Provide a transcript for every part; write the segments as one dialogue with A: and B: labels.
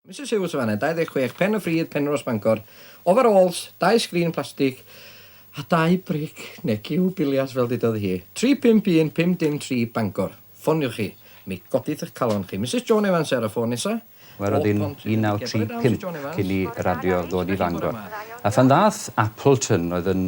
A: Misus Huws yn fan'na, 26 Pen-y-ffridd, Penrhos, Bangor. Ofarôls, dau sgrin plastig a dau bric neu giw biliard fel dudodd hi. 351 503 Bangor. Ffoniwch chi, mi godith eich calon chi. Misus Joan Evans ar y ffôn nesa. Mae roedd hi'n 1935
B: cyn i radio ddod i Fangor. A phan ddaeth Appleton, oedd yn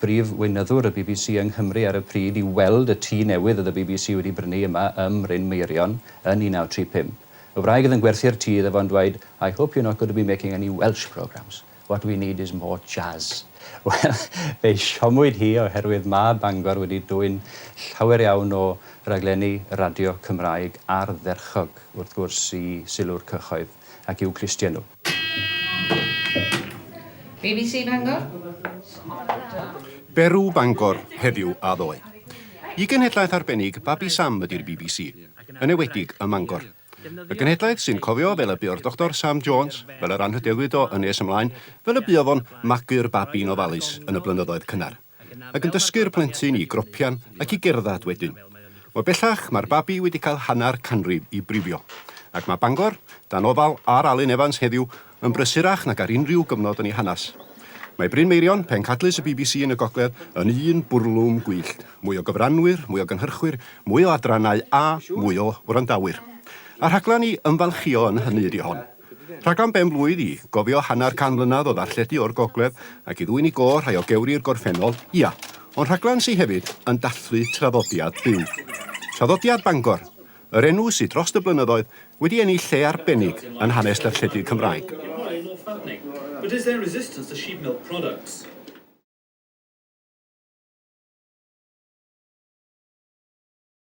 B: brif weinyddwr y bbc yng Nghymru ar y pryd, i weld y tŷ newydd oedd y bbc wedi brynu yma ym Mryn Meirion yn 1935, Y wraig oedd yn gwerthu'r tŷ iddo fo yn dweud, I hope you're not going to be making any Welsh programmes, what we need is more jazz. Wel, fe'i siomwyd hi oherwydd ma' Bangor wedi dwyn llawer iawn o raglenni radio Cymraeg ardderchog, wrth gwrs, i sylw'r cyhoedd ac i'w clustie nhw.
C: Bbc Bangor.
D: Berw, Bangor, heddiw a ddoe. Y genhedlaeth arbennig, Babi Sam ydy'r bbc, yn ewedig ym Mangor. Y genhedlaeth sy'n cofio fel y buo'r Doctor Sam Jones, fel yr anrhydeddwyd o yn nes ymlaen, fel y buodd o'n magu'r babi'n ofalus yn y blynyddoedd cynnar. ac yn dysgu'r plentyn i gropian ac i gerddad wedyn. O bellach, mae'r babi wedi cael hanner canrif i brifio, ac mae Bangor, dan ofal ar Alun Evans heddiw, yn brysurach nag ar unrhyw gyfnod yn ei hanes. Mae Bryn Meirion, pencadlys y bbc yn y gogledd, yn un bwrlwm gwyllt, mwy o gyfranwyr, mwy o gynhyrchwyr, mwy o adrannau a mwy o wrandawyr. A rhaglen i ymfalchïo yn hynny ydy hon. Rhaglen ben-blwydd i gofio hanner can mlynedd o ddarlledu o'r gogledd ac i ddwyn i gôr rhai o gewri'r gorffennol, ia, ond rhaglen sy hefyd yn dathlu traddodiad byw. Traddodiad Bangor, yr enw sy drost y blynyddoedd wedi ennill lle arbennig yn hanes darlledu
E: Cymraeg.